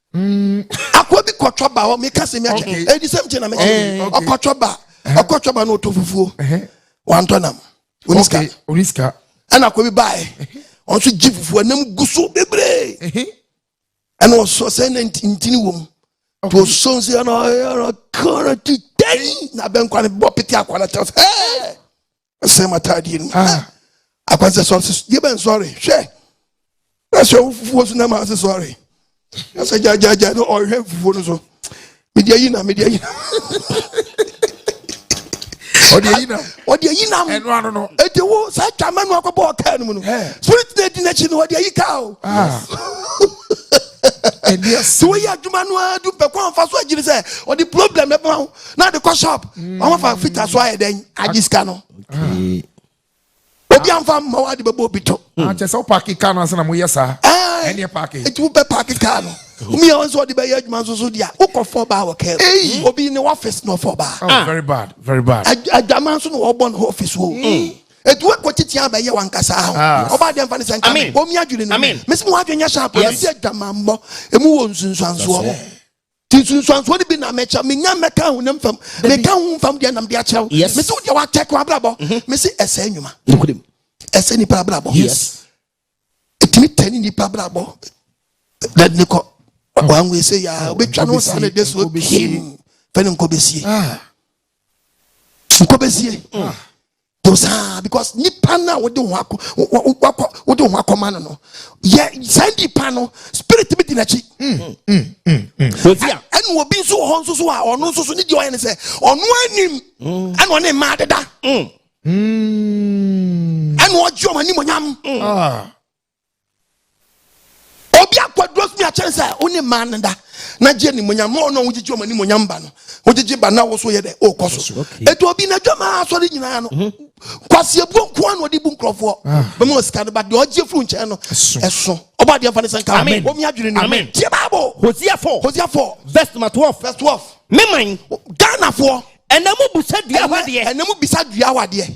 [SPEAKER 2] Mm. akwa bi kɔtɔ ba hɔ meka sɛ mɛkyɛ okay. ɛdi sɛm kye na mɛkyɛ eh, okay. ɔkɔtɔ ba uh-huh. ɔkɔtɔ ba na ɔtɔ fufuo uh-huh. wantɔ nam onisika onisika ɛna akwa bi baɛ uh-huh. ɔnso gye fufuo ɛnam gu so bebree ɛna ɔsɔ sɛ na ntini wɔ mu to ɔsɔ nsi ɛna ɔyɛra kɔrɔ ti tɛn na bɛnkwa ne bɔ pete akwa na kyɛw sɛ ɛɛ sɛ matadeɛ no mu ah. akwansɛ sɔre sɛ deɛ bɛn sɔre hwɛ na sɛ wofufuo so na ma ase sɔre na sɛ gyagyagya no ɔhwɛ fufuo no so mede ayi na mede ayi na
[SPEAKER 3] ɔde ayi nam ɔde ayi nam ɛnu ano
[SPEAKER 2] no eti wo saa twama nu akɔ bɔɔ kaa no mu no spirit na edi n'akyi no ɔde ayi kaa o ah. sɛ woyɛ adwuma no ara du pɛ kɔn fa so agyiri sɛ ɔde problem ɛbɛn ho na de kɔ shop mm. wɔn fa fita so ayɛ dɛn agye sika no obi anfa mma wa de bɛ bɔ obi to. a kyɛ sɛ o paaki
[SPEAKER 3] kaa na sɛnɛ mo yɛ saa. ɛɛ ɛni yɛ paaki. etu bɛ paaki kaa no omi yɛ wɔn sɔ de bɛ yɛ adwuma soso di a o kɔ fɔ baa wɔ kɛrɛ mm. obi ni wɔfis na ɔfɔ baa. oh ah. very bad very bad. adwuma nso na wɔbɔ ne ɔfis o. Mm. etu ekɔ titi abɛ yɛ wɔn kasa ahɔ ah. ɔba adiɛ nfa ne sɛ nka omi adwiri ne mu mesi mu wadwi nyɛ sharp ɛsi adwuma mbɔ emu wɔ nsunsuansoɔ. Ti nsunsuansoɔ no bi na mɛkyɛ menya mɛka honam fam meka ho mfam deɛ nam de akyerɛ wo mese wo deɛ wakyɛ ko abrabɔ mhm. mese ɛsɛ nnwuma ɛsɛ nipa abrabɔ ɛtumi tɛne nipa abrabɔ dade ne kɔ wanwe sɛ yɛ a wobɛtwa no saa ne de soɔ pim fɛ ne nkɔ bɛsie ah. nkɔ bɛsie ah. to saa because nipa no a wode ho akɔ wakɔ wode ho akɔma no no yɛ saa nipa no spirit bi di n'akyi mm, mm, mm, ɛna obi nso wɔ hɔ nso so a ɔno nso so ne deɛ ɔyɛ ne sɛ ɔno anim ɛna ɔne mmaa deda ɛna ɔgye ɔmo animonyam ah. obi akwaduro sini akyɛn sɛ wo ne mmaa no da na gye animonyam ma ɔno a wogyegye ɔmo animonyam ba no wogyegye ba na wo so yɛ dɛ ɔkɔ so ɛti obi na adwama asɔre nyinaa no mhm. kwaseɛbuo nko a na ɔde bu nkurɔfoɔ ah. bɛma ɔsika no ba deɛ ɔgye firi nkyɛn no ɛso ɔbɔ adeɛ mfa ne sɛ nka wɔmi adwene no mu tie bible hosea 4 hosea 4 verse number 12 verse 12 meman ghanafoɔ ɛnam bisa dua hɔ adeɛ ɛnam bisa dua hɔ adeɛ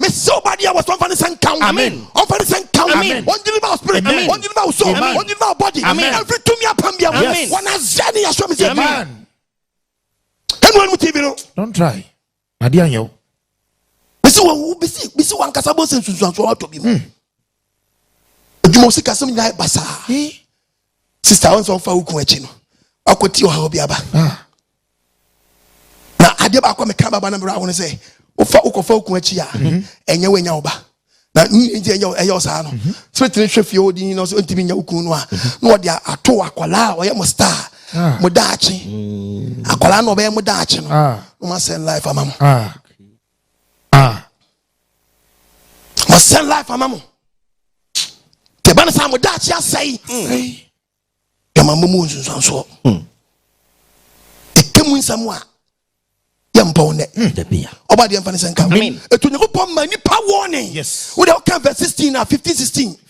[SPEAKER 3] Mese ɔbade a wɔsɛ ɔmfa ne nsa nka wo. Amen. Ɔmfa ne nsa nka wo. Amen. Wɔn deliver wo spirit. Amen. Wɔn deliver wo soul. Amen. Wɔn deliver wo body. Amen. Every tumi apam bia mu. Yes. Wɔn azɛ ne yasɔ mi se. Amen. Ɛnu ɛnu TV no. Don't try. Adi anyɛ o. Bisi wɔn bisi
[SPEAKER 2] bisi wɔn ankasa bɔ se nsunsuanso ɔtɔ bi mu. Hmm. adwuma osikasɛm nyinaa yɛ basaa sista wɔn sɛ wɔn fa okun akyi no wakɔ ti ɔhaw bi aba ah. na adeɛ baako a meka baba na mmerɛ awo no sɛ wofa wokɔfa okun akyi a mhm. ɛnyɛ wo anya wo ba na nti ɛyɛ ɛyɛ ɔsaa no mhm. firitiri hwɛ fie odi na ɔsɛ ntumi nya okun no a mhm. na ɔde ato akwadaa a ɔyɛ mo star ah. mo daakye mm. akwadaa na ɔbɛyɛ mo daakye no ah. na wɔn asɛn life ama mo. wɔsɛn life ama mo deɛ ɛba no saa mo daakye asɛe yɛma mmɔ mu nsunsuansoɔ ɛka mu nsɛm a yɛmpɔ
[SPEAKER 3] wo nnɛ
[SPEAKER 4] ɔba deɛ mfa ne sɛ nka
[SPEAKER 3] ɛtu onyankopɔn ma nnipa wɔne wode woka vɛ 16 a 15 16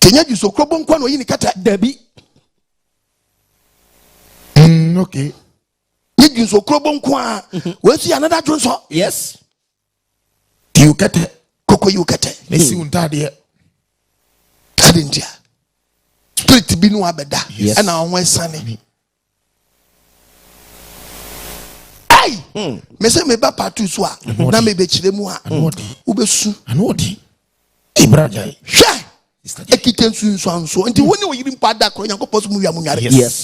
[SPEAKER 3] kenya juso krobo nkoa na ɔyi ne kɛtɛ dabi
[SPEAKER 5] mm, okay nye
[SPEAKER 3] juso krobo nkoa mhm. wɔasi yɛ anada dwonsɔ yes
[SPEAKER 5] yiw kɛtɛ koko yiw kɛtɛ
[SPEAKER 3] na si wo ntaadeɛ ade ntia spirit bi no abɛda ɛna wɔn asiane mese meba pato so a na mebɛkyerɛ mu a wobɛsu
[SPEAKER 5] hwɛ
[SPEAKER 3] ɛkita nsunsuansoɔ nti wo ne ɔyere mpo ada korɔ nyankopɔn so mu wia mu nware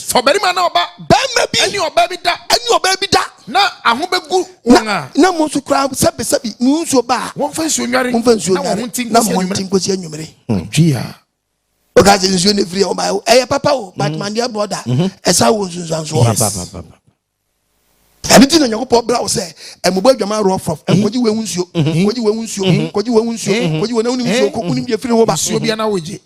[SPEAKER 3] fa ɔbarima na
[SPEAKER 4] ɔba
[SPEAKER 5] bɛrima bi ɛne ɔbaa
[SPEAKER 3] bi da ɛne
[SPEAKER 5] ɔbaa bi da
[SPEAKER 3] na aho bɛgu
[SPEAKER 5] wɔn a na mo nso koraa
[SPEAKER 3] sɛbesɛbe mo nsuo ba a wɔmfa nsuo nware wɔmfa
[SPEAKER 5] nsuo nware
[SPEAKER 3] na mo nti nkɔsi
[SPEAKER 5] anwummere woka sɛ
[SPEAKER 3] nsuo no firi ɔma ɛyɛ papa o but mm. mandeɛ brɔda mm-hmm. ɛsa wɔ nsunsuansoɔ ɛne ti na nyankopɔn bra wo sɛ ɛmobɔ adwama rɔfrɔf mm-hmm. ɛnkɔgye wɔ ho nsuo mm-hmm. kɔgye wɔ ho nsuo kɔgye wɔ ho nsuo kɔgye wɔ n'awonim nsuo kɔ wonim deɛ firi wo ba nsuo bia na wogye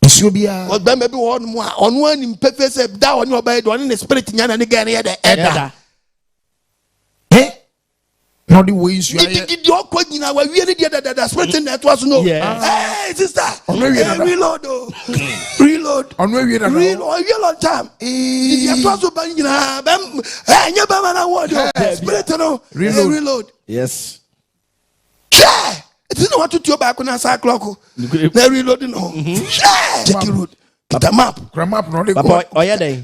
[SPEAKER 5] nsuo biara ɔbɛma bi wɔ
[SPEAKER 3] hɔnom a ɔno anim pɛfɛ sɛ da ɔne ɔbɛyɛ de ɔne ne spirit nyana ne gɛɛ no yɛ dɛ ɛda
[SPEAKER 5] na ɔde wei nsu ayɛ gidigidi ɔkɔ nyina
[SPEAKER 3] wawie ne deɛ dadada spirit na ɛtoa so no ɛɛ sista ɔno awie dada reload o reload ɔno awie dada
[SPEAKER 5] reload awie long time
[SPEAKER 3] gidigidi ɛtoa so ba nyinaa bɛm ɛɛ nye bɛma na wɔ de spirit no reload reload yes
[SPEAKER 4] hwɛ
[SPEAKER 3] ɛti na wato tuo baako na saa clock na reload no hwɛ check road kita map kura map na ɔde kɔ
[SPEAKER 5] ɔyɛ dɛ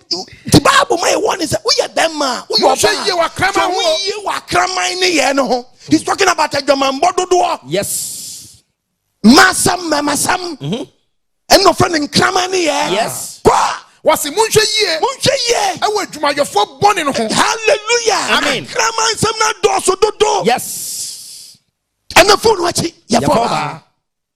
[SPEAKER 3] The Bible ma yɛ warning sɛ woyɛ bɛrima a woyɛ ɔbaa sɛ yie wɔ akraman ne yɛ no ho. He's talking about adwamanbɔ dodoɔ. Yes.
[SPEAKER 4] Masɛm
[SPEAKER 3] mɛmasɛm. Mm-hmm. Ɛna ɔfrɛ no nkraman ne yɛ. Yes. Kɔ.
[SPEAKER 4] Wɔsi mo
[SPEAKER 5] nhwɛ yie. Mo nhwɛ yie. Ɛwɔ adwumayɛfoɔ bɔne no ho. Hallelujah. Amen.
[SPEAKER 3] Nkraman
[SPEAKER 4] nsɛm na
[SPEAKER 3] dɔɔso dodo. Yes.
[SPEAKER 4] Ɛna
[SPEAKER 3] fone wakyi yɛ fɔ ɔbaa.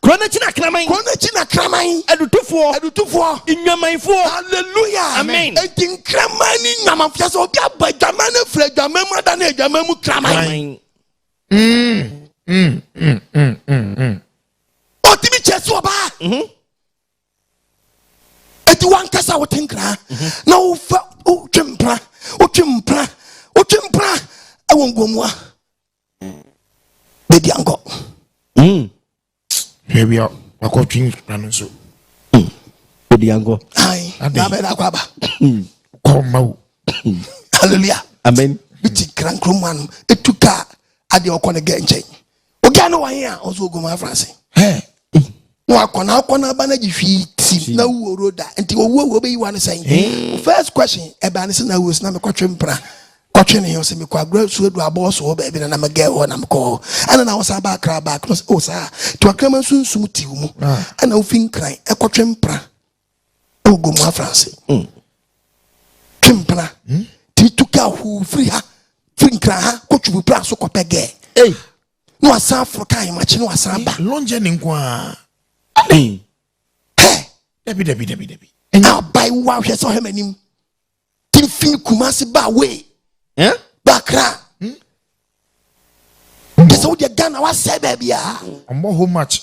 [SPEAKER 3] Kuro no akyi na
[SPEAKER 4] kraman. Kuro no akyi na kraman.
[SPEAKER 3] Adutofoɔ. Adutofoɔ.
[SPEAKER 4] Nnwamanfoɔ. Hallelujah.
[SPEAKER 3] Amen. Eti
[SPEAKER 4] nkraman
[SPEAKER 3] ni nnwaman fia sɛ obi abɔ adwaman no firi adwaman mu ada ne adwaman mu kraman. Mm, mm, mm, mm, mm, mm. Otimi kyɛ so ɔbaa. Mhm. Eti wankasa wote nkra mhm. na wofa wotwe mpra wotwe mpra wotwe mpra ɛwɔ nguomua. baabi ankɔ hmm.
[SPEAKER 5] hwɛ bia wakɔtwe nkra no nso hmm.
[SPEAKER 4] baabi ankɔ nabɛda
[SPEAKER 3] akɔ aba hmm. kɔ ma
[SPEAKER 5] wo
[SPEAKER 3] halleluya amen
[SPEAKER 4] bɛti nkra nkro mu
[SPEAKER 3] anom ɛtu kaa adeɛ ɔkɔ ne gɛ nkyɛn oga no wɔhe a ɔso ɔgoma afrase na wakɔ na akɔ na aba na gye hwii ti na wuo ro da nti owu owu obeyi wa no sɛn eh. first question ɛbaa ne sɛ na wuo si na mekɔtwe mpra kɔtwe ne ho sɛ mekɔ agorɔ su adu abɔɔ so hɔ baabi na na megɛ hɔ na mekɔ hɔ ɛna na wosan ba akra back no sɛ o oh, saa nti wakrama nso nsum ti wo mu ah. ɛna wofi nkran ɛkɔtwe mpra ɛwɔ gomu afranse hmm. twe mpra hmm? ti tu ka huu firi ha firi nkran ha kɔtwe mpra so kɔpɛ gɛɛ na wasan aforo ka ahemakye na wasan aba. long journey nko
[SPEAKER 5] ara. ɛnɛn. hɛ. dabi dabi dabi dabi. ɛnyɛ abayi
[SPEAKER 3] wo ahwɛ sɛ ɔhɛ m'anim ti n fi kumasi ba away. Eh? ba kra. Hmm? ɛsɛ wo deɛ ghana wasɛe baabi a. ɔmɔ home match.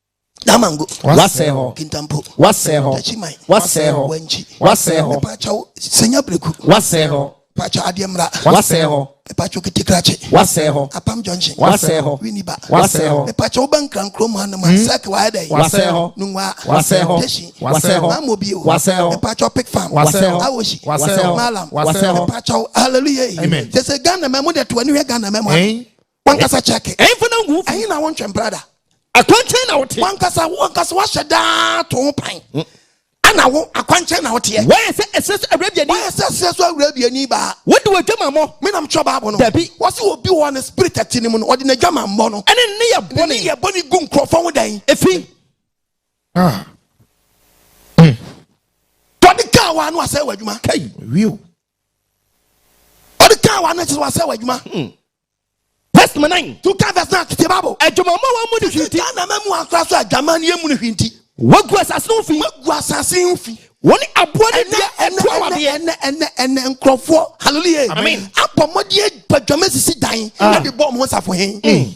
[SPEAKER 3] Damango. Wasɛe hɔ.
[SPEAKER 4] Kintampo. Wasɛe
[SPEAKER 3] hɔ. Tachiman.
[SPEAKER 4] Wasɛe hɔ.
[SPEAKER 3] Wanchi.
[SPEAKER 4] Wasɛe hɔ.
[SPEAKER 3] Mepakyɛw
[SPEAKER 4] Senya
[SPEAKER 3] Breku. Wasɛe hɔ.
[SPEAKER 4] Pakyɛw Adeɛ Mmra.
[SPEAKER 3] Wasɛe hɔ.
[SPEAKER 4] Mepakyɛw Kitikrachi.
[SPEAKER 3] Wasɛe hɔ. Apam
[SPEAKER 4] Junction. Wasɛe
[SPEAKER 3] hɔ. Winiba.
[SPEAKER 4] Wasɛe hɔ.
[SPEAKER 3] Mepakyɛw
[SPEAKER 4] Woba Nkrankuro
[SPEAKER 3] mu hanom a sɛk hmm? wayɛ dɛn? Wasɛe hɔ. Nungwa.
[SPEAKER 4] Wasɛe hɔ.
[SPEAKER 3] Teshin.
[SPEAKER 4] Wasɛe hɔ. Maamo bio. Wasɛe hɔ.
[SPEAKER 3] Mepakyɛw Pick
[SPEAKER 4] Farm. Wasɛe
[SPEAKER 3] hɔ. Awoshi.
[SPEAKER 4] Wasɛe hɔ.
[SPEAKER 3] Malam.
[SPEAKER 4] Wasɛe hɔ. Mepakyɛw Hallelujah.
[SPEAKER 3] Amen. Sese Ghana
[SPEAKER 5] mɛmo deɛ to
[SPEAKER 3] ani hwɛ Ghana mɛmo. wankasa kyɛke ɛmfa no ngu ɛhe na
[SPEAKER 4] wontwɛn brada
[SPEAKER 3] akwankyɛn na wote
[SPEAKER 4] wankasa wankasa wahyɛ
[SPEAKER 3] daa to ho pan hmm. ana wo akwankyɛn na woteɛ wɔyɛ sɛ ɛsɛ so awura
[SPEAKER 4] biani wɔyɛ sɛ ɛsɛ so awura biani
[SPEAKER 3] baa wode w'adwamammɔ
[SPEAKER 4] menam kyerɛ baabo no dabi
[SPEAKER 3] wɔse obi wɔ
[SPEAKER 4] ne
[SPEAKER 3] spirit ati no mu no ɔde n'adwamammɔ no ɛne ne yɛ bɔne ne
[SPEAKER 4] yɛ bɔne gu nkurɔfoɔ
[SPEAKER 3] ho dan ɛfi ah. hmm. tɔde kaa wa no asɛ w'adwuma kai wiw ɔde kaa wa no kyerɛ wasɛ w'adwuma hmm.
[SPEAKER 4] Verse number nine. To ka verse nine tete babo.
[SPEAKER 3] Adwumammɔ wɔn mu ne
[SPEAKER 4] hwinti. Ghana ma mu ankora so
[SPEAKER 3] adwaman yɛ mu ne hwinti. Wagu asase no ho
[SPEAKER 4] fi. Wagu asase ho fi.
[SPEAKER 3] Wɔne aboa ne
[SPEAKER 4] dua ɛto awadeɛ. Ɛnɛ ɛnɛ ɛnɛ
[SPEAKER 3] nkurɔfoɔ hallelujah. Amen. Abɔ mmɔden
[SPEAKER 5] adwadwama
[SPEAKER 3] sisi dan. Ɛde bɔ wɔn ho safohin.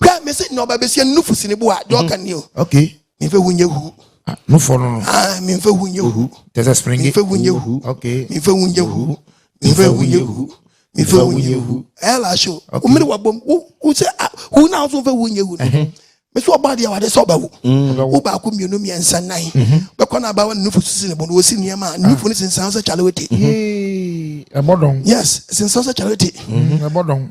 [SPEAKER 3] hwɛ me se nyɛ ɔba bɛsie no nufu si ne bo a deɛ ɔka ni o okay mefɛ hu
[SPEAKER 5] nyɛ hu
[SPEAKER 3] ah, nufɔ no no
[SPEAKER 5] ah mefɛ hu nyɛ
[SPEAKER 3] hu tɛsɛ springi mefɛ hu
[SPEAKER 5] nyɛ hu
[SPEAKER 3] okay mefɛ hu nyɛ
[SPEAKER 5] hu
[SPEAKER 3] mefɛ hu nyɛ hu mefɛ hu nyɛ hu ɛla ahyɛ o omere wa bom wo wo sɛ ah, hu na nso mfɛ hu nyɛ hu me sɛ ɔba deɛ wade sɛ ɔbɛwo wo mm. baako mmienu mmiɛnsa nan mhm. bɛkɔ no aba wa ne nufu sisi ne bo no wɔsi nneɛma a ne nufu no sensan sɛ kyale wote
[SPEAKER 5] ɛbɔdɔn yes sensan sɛ
[SPEAKER 3] kyale wote ɛbɔdɔn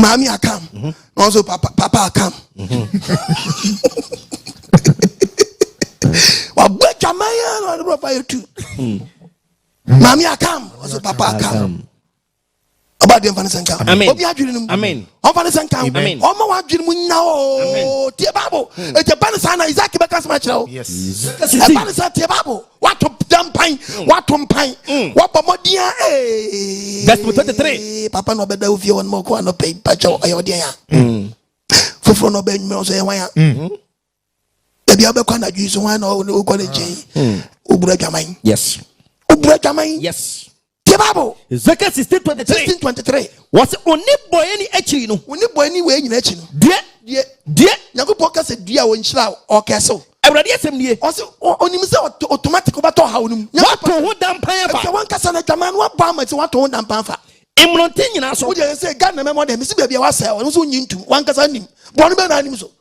[SPEAKER 3] maame akam mhm. na ɔnso papa papa akam mhm. wabɔ adwaman yɛ na ɔde bɔfa yɛ tu hmm. maame akam ɔnso papa akam ɔba deɛ nfa ne sɛ nka obi adwene no mu ɔnfa ne sɛ nka ɔma wadwene mu nya o tie baabo ɛgya ba ne saa na isaac bɛka sɛm akyerɛ wo ɛba ne sɛ tie baabo Wato gya mpan, mm. wato mpan, mm. wabɔ mmɔden a ee. Verse twenty three. Papa na ɔbɛda ofie hɔ no ma ɔkɔ anɔpɛ yi mpakyɛ ɔyɛ ɔdeɛ ya. Mm. Foforɔ na ɔbɛ nwumɛ nso yɛ hwan ya. Ebi abɛkɔ anadwo yi so hwan na ɔkɔ ne nkyɛn. Obura dwaman. Yes. Obura dwaman. Yes. Tie Bible. Ezekiel
[SPEAKER 4] sixteen twenty three. Sixteen twenty three. Wɔsi oni bɔyɛ ni akyiri no. Oni bɔyɛ ni wei nyina akyi
[SPEAKER 3] no. Deɛ. Deɛ. Deɛ. Nyankopɔn kasa dua a wɔnhyira ɔkɛsew. Awurade asɛm nie.
[SPEAKER 4] Ɔsi onim sɛ
[SPEAKER 3] automatic wobɛtɔ haw no mu. Wato ho dampan
[SPEAKER 4] afa. Ɛfɛ wankasa na adwaman no
[SPEAKER 3] wabɔ ama sɛ wato ho dampan afa. Mmronte nyinaa so.
[SPEAKER 4] Wogye sɛ Ghana mɛmɔ dɛ
[SPEAKER 3] mesi baabi a wasɛe ɔno nso nyi ntum wankasa nim bɔne bɛɛ na anim so.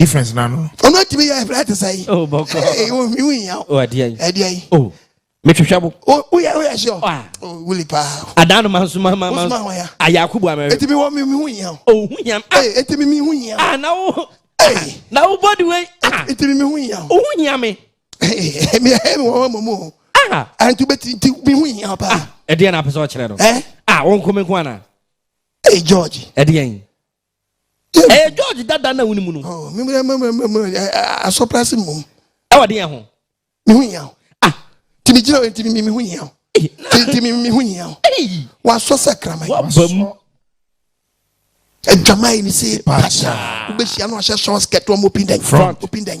[SPEAKER 5] difference na no. ɔno atumi yɛ ɛbrɛ
[SPEAKER 3] te sɛ yi. o bɔkɔ ee o
[SPEAKER 4] mi wunya
[SPEAKER 3] o. o adiɛ yi adiɛ yi.
[SPEAKER 4] o
[SPEAKER 3] mi
[SPEAKER 4] twitwa bo. o o yɛ o yɛ sure.
[SPEAKER 3] wa o wuli paa. adan no ma nso ma ma
[SPEAKER 4] ma. o suma hɔn ya. a yɛ akubu amɛri. eti mi wɔ mi mi
[SPEAKER 3] hu yia. o hu yia.
[SPEAKER 4] ee eti mi mi hu
[SPEAKER 3] yia. a na o.
[SPEAKER 4] ee na o
[SPEAKER 3] bɔ di wei.
[SPEAKER 4] eti mi mi hu yia.
[SPEAKER 3] o hu yia mi.
[SPEAKER 4] ee mi
[SPEAKER 3] ɛ mi wɔ mɔ mu o. aa ɛntu bɛ
[SPEAKER 4] ti ti
[SPEAKER 3] mi hu yia paa. ɛdiɛ na apɛsɛ ɔkyerɛ
[SPEAKER 4] no. ɛ a o nkomi
[SPEAKER 3] nko ana.
[SPEAKER 4] ee george.
[SPEAKER 3] ɛdiɛ yi.
[SPEAKER 4] ɛyɛ george dada na wone mu no
[SPEAKER 3] asɔprase mmom ɛwɔ deɛ ho
[SPEAKER 4] meho hia wo
[SPEAKER 3] ah nti megyina nti meho hia wo nti meho hia wo
[SPEAKER 4] wasɔ sɛ kraman
[SPEAKER 3] wabamu adwaman ne sɛ paa wobɛhyia no ahyɛ sɔs kɛtoa mu opin dɛn opin dɛn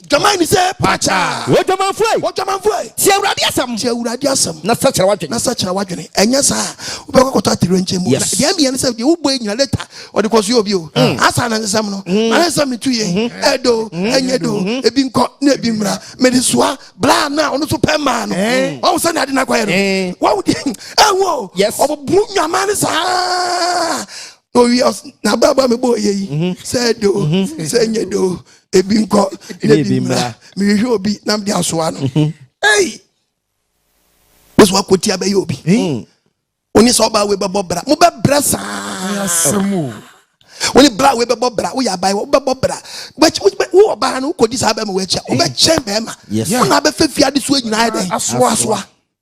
[SPEAKER 4] Dwaman ni sɛ
[SPEAKER 3] paakyaa. Odwamanfo ei.
[SPEAKER 4] Odwamanfo ei. Tie
[SPEAKER 3] Awurade asɛm. Tie Awurade
[SPEAKER 4] asɛm. Na sakyera w'adwene. Na sakyera w'adwene.
[SPEAKER 3] Ɛnyɛ saa wobɛkɔ akɔtɔ atoyerɛnkyɛm mu. Yes. Deɛ ɛmeɛ ne sɛ deɛ
[SPEAKER 4] wobɔ
[SPEAKER 3] nyina leta ɔde kɔ so yɛ obi o. Mm. Asa na nsɛm no. Mm. Ana nsɛm no tu yie. Mm-hmm. Ɛdo mm-hmm. ɛnyɛ do mm-hmm. ebi nkɔ na ebi mmra. Mede soa bra na ɔno nso pɛ mmaa no. Eh. Wɔn sɛ na ade na akɔyɛ no. Eh. Wɔn ɛwɔ. Yes. Ɔbɛbu
[SPEAKER 4] nwaman ne
[SPEAKER 3] saa. na owi ɔs na abrabɔ a mebɔ yɛ yi mhm. sɛ ɛde o mhm. sɛ ɛnyɛ de o ebi nkɔ na ebi mmra mehwehwɛ obi na mede asoa no mhm. ei bɛsɛ wakɔti abɛyɛ obi wone sɛ ɔbaa wei bɛbɔ bra mobɛbrɛ saa wone bra wei bɛbɔ bra woyɛ abae wobɛbɔ bra wo ɔbaa no wokɔdi saa bɛma woakyia wobɛkyɛn bɛma wona bɛfɛ
[SPEAKER 4] fiade
[SPEAKER 3] soa nyinaa dɛn asoa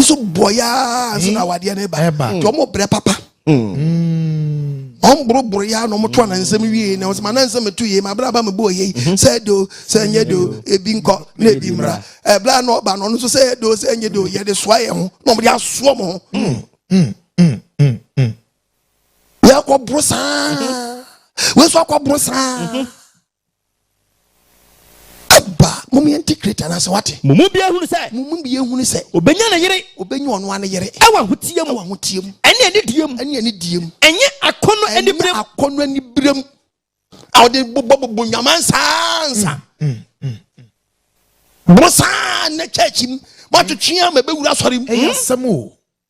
[SPEAKER 3] wɔn so bɔ yaa nso na hmm. awadeɛ no ba nti wɔn brɛ papa hmm. wɔn boroboro yaa na wɔn to anansɛm wie na wɔn sɛ ma anansɛm to yie ma abira aba mi bɔ yie hmm. sɛ do sɛ nye do ebi nkɔ na ebi mmra ɛbila na ɔba na ɔno nso sɛ do sɛ nye do yɛde soa yɛn ho na wɔn de asoɔ mo ho yɛ kɔ boro saa wɔn nso akɔ boro saa. Aba, mom yɛn ti kreti anaasɛ wate. Mo mu bi ehunu sɛ. Mo
[SPEAKER 4] mu bi ehunu sɛ.
[SPEAKER 3] Obenya ne yere.
[SPEAKER 4] Obenya ɔno ara ne yere.
[SPEAKER 3] Ɛwɔ ahoteɛ mu. Ɛwɔ ahoteɛ
[SPEAKER 4] mu. Ɛne anidie
[SPEAKER 3] mu. Ɛne
[SPEAKER 4] anidie mu. Ɛnyɛ
[SPEAKER 3] akɔnɔ
[SPEAKER 4] anibirem. Ɛnyɛ akɔnɔ anibirem.
[SPEAKER 3] A ɔde bobɔ bobɔ nyaman saa nsa. Mm, mm, mm. Mo saa ne church mu. Mo atwetwe ama ebewura asɔre mu. Ɛyɛ asɛm o.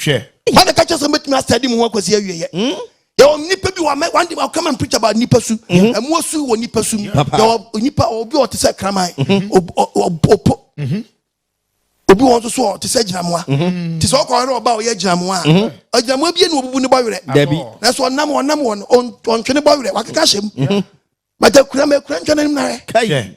[SPEAKER 3] hwɛ. wọn na ka
[SPEAKER 5] kyerɛ sɛ mɛtumi
[SPEAKER 3] asɛde mu ho akwasi awieɛ hmm? yɛwɔ nipa bi wɔ one day come and preach about nipa su hmm? ɛmoa su wɔ nipa su mu yɛwɔ nipa obi ɔte sɛ kraman hmm? opo obi wɔn nso so ɔte sɛ gyinamoa te sɛ ɔkɔ ɔyɛ ɔba ɔyɛ gyinamoa a gyinamoa bi na obubu ne bɔ werɛ nanso ɔnam ɔnam wɔn ɔntwe ne bɔ werɛ wakeka hyɛ mu bàtà kura mɛ kura ntwa n'anim na yɛ.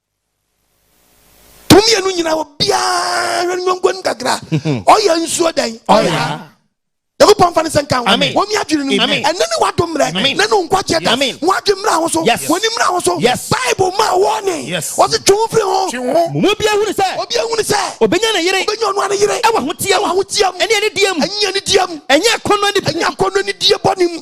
[SPEAKER 3] Tum yɛ no nyinaa obiara no nyɔnko no kakra. Ɔyɛ nsuo dɛn? Ɔyɛ nyankopɔn mfa ne sɛ nka wɔn mi adwene no ɛne ne wado mmerɛ ne ne nkwagyeɛ da wɔn adwe mmra ho so wɔn ani mmra ho so bible ma wɔne wɔse twe ho firi
[SPEAKER 5] ho
[SPEAKER 3] mu obi ahunu sɛ
[SPEAKER 4] obi ahunu sɛ obɛnya
[SPEAKER 3] ne yere obɛnya
[SPEAKER 4] ɔnoa ne yere ɛwɔ
[SPEAKER 3] ahoteɛ mu ahoteɛ
[SPEAKER 4] mu ɛne ɛne deɛ mu ɛnyɛ ne deɛ mu ɛnyɛ
[SPEAKER 3] akɔnnɔ ne ɛnyɛ
[SPEAKER 4] akɔnnɔ ne deɛ bɔ ne mu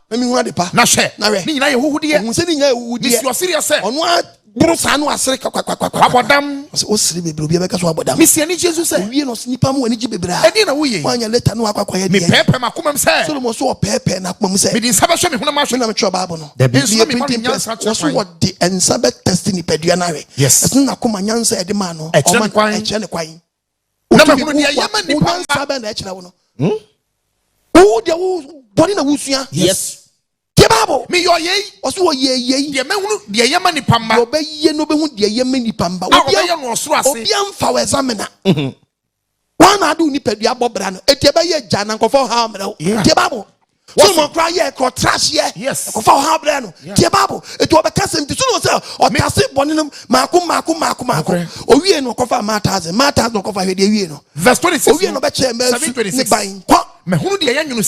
[SPEAKER 5] Na mehunu ade pa. Na
[SPEAKER 3] hwɛ, na hwɛ, ne nyinaa yɛ
[SPEAKER 5] ahuhudeɛ. Ohun sɛ ne nyinaa yɛ ahuhudeɛ. Ne
[SPEAKER 3] si ɔsereɛ sɛ. Ɔno
[SPEAKER 5] ara boro saa
[SPEAKER 3] no asere kakwakwakwa. Wabɔ dam. Ɔsɛ
[SPEAKER 5] ɔsere bebree
[SPEAKER 3] obi abɛka so abɔ dam. Mesi anigye nso sɛ. Owie
[SPEAKER 5] na ɔsɛ nipa mu anigye
[SPEAKER 3] bebree a. Ɛdeɛ na woyɛ yi. Woanya
[SPEAKER 5] leta no akɔ akɔyɛ
[SPEAKER 3] deɛ. Mepɛɛpɛɛ m'akomam sɛ.
[SPEAKER 5] Solomon so ɔpɛɛpɛɛ
[SPEAKER 3] n'akomam sɛ. Mede nsa bɛhwɛ me honam ahwɛ.
[SPEAKER 5] Me na metwerɛ Bible no. Dabi.
[SPEAKER 3] Nso na mema no nyansa kyerɛ
[SPEAKER 5] kwan. Wɔso wɔde
[SPEAKER 3] nsa bɛtɛste nipadua no ahwɛ. Yes. Ɛsene n'akoma nyansa
[SPEAKER 5] a ɛde
[SPEAKER 3] maa no. Ɛkyerɛ ne kwan. Ɛkyerɛ ne
[SPEAKER 5] kwan. na mahunu nea ɛyɛ ma nipa nsa bɛn na ɛkyerɛ wo no
[SPEAKER 3] hmm? wo deɛ wo bɔne na wosua yes
[SPEAKER 4] deɛ baabo
[SPEAKER 3] meyɛ ɔyɛ yi
[SPEAKER 5] ɔso ɔyɛ yɛ yi
[SPEAKER 3] deɛ mɛhunu deɛ ɛyɛ
[SPEAKER 5] ma nipa mma deɛ ɔbɛyɛ no bɛhu deɛ
[SPEAKER 3] ɛyɛ ma nipa mma a ɔbɛyɛ no ɔsoro ase
[SPEAKER 5] obia mfa wɔ ɛzamena
[SPEAKER 3] mm-hmm. wọn na adi wo nipadua bɔ bra no eti ɛbɛyɛ gya na nkɔfɔ ha mmerɛw deɛ baabo wɔsoma koraa yɛ ɛkɔ ɔtra aseɛ ɛkɔfa ɔha brɛ no tie bible ɛti ɔbɛka sɛm ti so no sɛ ɔtase bɔne no maako maako maako maako owie no ɔkɔfa ma thousand ma thousand ɔkɔfa hwɛ deɛ wie no
[SPEAKER 5] owie no ɔbɛkyɛ
[SPEAKER 3] mmasu
[SPEAKER 5] ne
[SPEAKER 3] ban kɔ mɛhunu deɛ ɛyɛ nwono